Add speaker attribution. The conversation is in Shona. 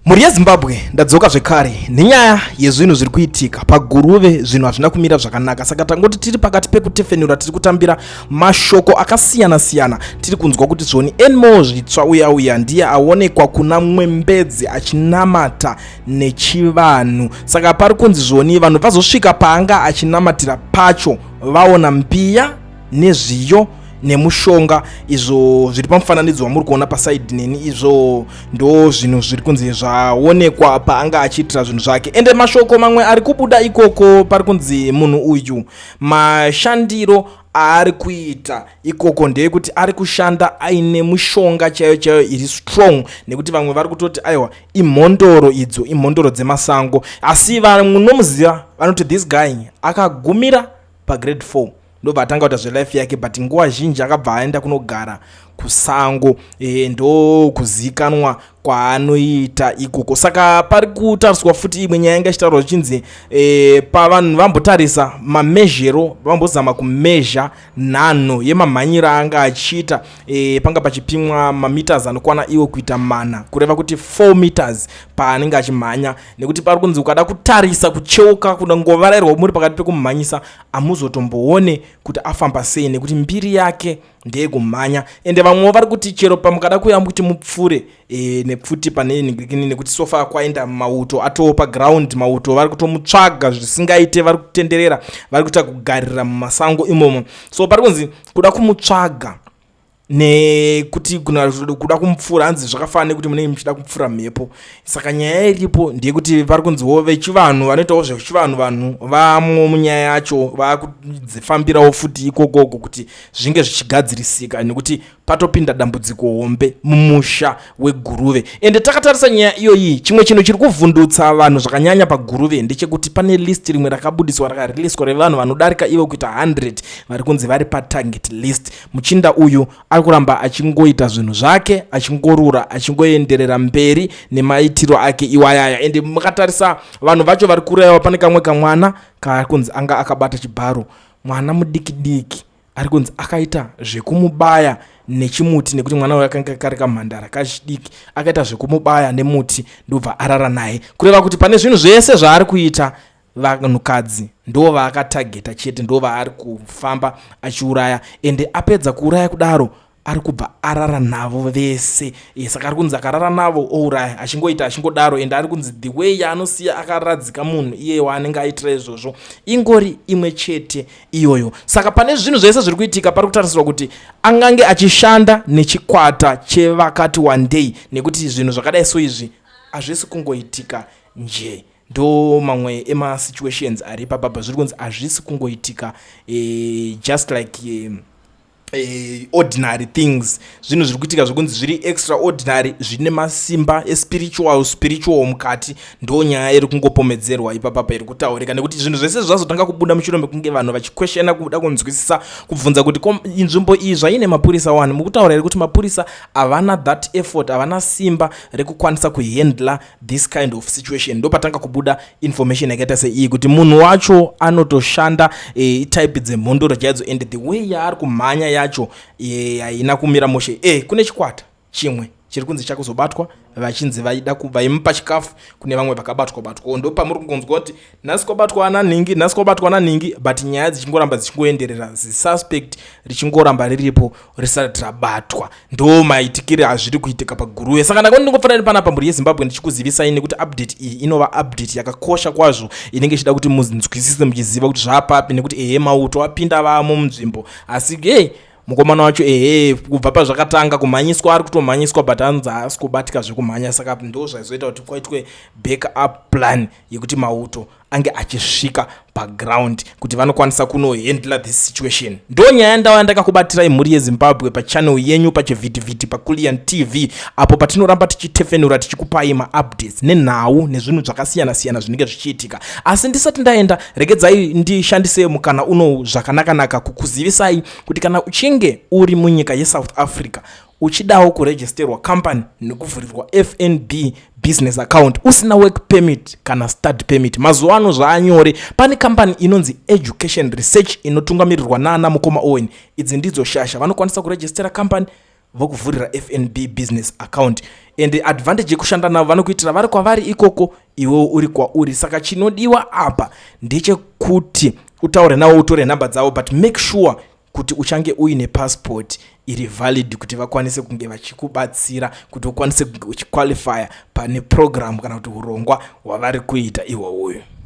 Speaker 1: mhuri yezimbabwe ndadzoka zvekare nenyaya yezvinhu zviri kuitika paguruve zvinhu hazvina kumira zvakanaka saka tangoti tiri pakati pekutefenura tiri kutambira mashoko akasiyana siyana tiri kunzwa kuti zvoni enmo zvitsva uya uya ndiye aonekwa kuna mwembedzi achinamata nechivanhu saka pari kunzi zvoni vanhu vazosvika paanga achinamatira pacho vaona mbiya nezviyo nemushonga izvo zviri pamufananidzo wamuri kuona pasaidi neni izvo ndo zvinhu zviri kunzi zvaonekwa paanga achiitira zvinhu zvake ende mashoko mamwe ari kubuda ikoko pari kunzi munhu uyu mashandiro aari kuita ikoko ndeyekuti ari kushanda aine mushonga chaiyo chaiyo iri strong nekuti vamwe vari kutoti aiwa imhondoro idzo imhondoro dzemasango asi vamwe nomuziva vanoti this guy akagumira pagrade 4 ndobva atanga kuita zvelife yake but nguva zhinji akabva aenda kunogara kusango e, ndokuzikanwa kwaanoita ikoko saka pari kutariswa futi imwe nyaya yanga ichitaurwa zvichinzi e, pavanhu vambotarisa mamezhero vambozama kumezha nhanho yemamhanyiro aanga achiita e, panga pachipimwa mameters anokwana iwo kuita mana kureva kuti 4 meters paanenge achimhanya nekuti pari kunzi ukada kutarisa kucheuka kuda ngovarairwa muri pakati pekumhanyisa amuzotomboone kuti afamba sei nekuti mbiri yake ndeyekumhanya ende vamwewo vari kuti chero pamukada kuyamba kuti mupfure e, nepfuti pane ningirikini nekuti sofa kwaenda mauto atoo paground mauto vari kutomutsvaga zvisingaite vari kutenderera vari kuita kugarira mumasango imomo so pari kunzi kuda kumutsvaga nekuti kuda kumupfuura hanzi zvakafana nekuti munenge muchida kupfuura mhepo saka nyaya iripo ndeyekuti vari kunziwo vechivanhu vanoitawo zvechivanhu vanhu vamwo munyaya yacho vakudzifambirawo futi ikokoko kuti zvinge zvichigadzirisika nekuti patopinda dambudziko hombe mumusha weguruve ende takatarisa nyaya iyoyi chimwe chinhu chiri kuvhundutsa vanhu zvakanyanya paguruve ndechekuti pane list rimwe rakabudiswa rakariliswa revanhu vanodarika ivo kuita 100 vari kunzi vari patarget list Muchinda uyu ari kuramba achingoita zvinhu zvake achingorura achingoenderera mberi nemaitiro ake iwayaya ende mukatarisa vanhu vacho vari kureva pane kamwe kamwana kaari kunzi anga akabata chibharo mwana mudiki diki ari kunzi akaita zvekumubaya nechimuti nekuti mwana uyo akanga kari kamhandara kachidiki akaita zvekumubaya nemuti ndobva arara naye kureva kuti pane zvinhu zvese zvaari kuita vanhukadzi ndo vaakatageta chete ndo vaari kufamba achiuraya ende apedza kuuraya kudaro ari kubva arara navo vese e, saka ari kunzi akarara navo ouraya achingoita achingodaro ende ari kunzi the way yaanosiya akaradzika munhu iye waanenge aitira izvozvo ingori imwe chete iyoyo saka pane zvinhu zvese zviri kuitika pari kutarisirwa kuti angange achishanda nechikwata chevakati wandei nekuti zvinhu zvakadai so izvi hazvisi kungoitika njee ndo mamwe ema situations ari papapa zviri kunzi hazvisi kungoitika e, just like e, e, ordinary things zvinhu zviri kuitika zvekunzi zviri extraordinary zvine masimba espiritual spiritual mukati ndo nyaya iri kungopomedzerwa ipapapa iri kutaurika nekuti zvinhu zvese zvazotanga kubuda mushure mekunge vanhu vachikweshena kuda kunzwisisa kubvunza kuti nzvimbo iyi zvaine mapurisa wani mukutaura here kuti mapurisa havana that effort havana simba rekukwanisa kuhandla this kind of situation ndopatanga kubuda information yakaita seiyi kuti munhu wacho anotoshanda e, eh, type dzemhondoro chaidzo and the way yaari kumhanya yacho eh, haina e, kumira moshe e, kune chikwata chimwe chiri kunzi chakuzobatwa vachinzi vaida vaimupa chikafu kune vamwe vakabatwa batwa ndopamuri kungonzwa kuti nhasi kwabatwa ana nhingi nhasi kwabatwa ana nhingi but nyaya dzichingoramba dzichingoenderera zisuspect richingoramba riripo risati rabatwa ndo maitikiri azviri kuitika paguruve saka ndakoni ndingofanira nepana pamburi yezimbabwe ndichikuzivisai nekuti update iyi inova update yakakosha kwazvo inenge ichida kuti munzwisise muchiziva kuti zvapapi nekuti ehe mauto apinda vamo munzvimbo asi hey, mukomana wacho ehe kubva pazvakatanga kumhanyiswa ari kutomhanyiswa but anzi haasi kubatika zvekumhanya saka ndo zvaizoita kuti kwaitwe back up plan yekuti mauto ange achisvika paground kuti vanokwanisa kunohandla this situation ndo nyaya ndauya ndakakubatirai mhuri yezimbabwe pachanel yenyu pachivhitivhiti pakulian tv apo patinoramba tichitefenura tichikupai maupdates nenhau nezvinhu zvakasiyana-siyana zvinenge zvichiitika asi ndisati ndaenda regedzai ndishandise mukana uno zvakanakanaka kukuzivisai kuti kana uchinge uri munyika yesouth africa Uchidawo kuregisterwa company nekuvhurirwa FNB business account usina work permit kana study permit mazuva ano zvaanyore pane kambani inonzi education research inotungamirirwa naana mukoma owen idzi ndidzo shasha vanokwanisa kurejistera kambani vokuvhurira fnb business account and advantage yekushanda navo vanokuitira vari kwavari ikoko iwewo uri kwauri saka chinodiwa apa ndechekuti utaure navo utore nhamba dzavo but make sure kuti uchange uine passport iri valid kuti vakwanise kunge vachikubatsira kuti ukwanise kunge uchiqualifya pane program kana kuti urongwa hwavari kuita ihwohwoyo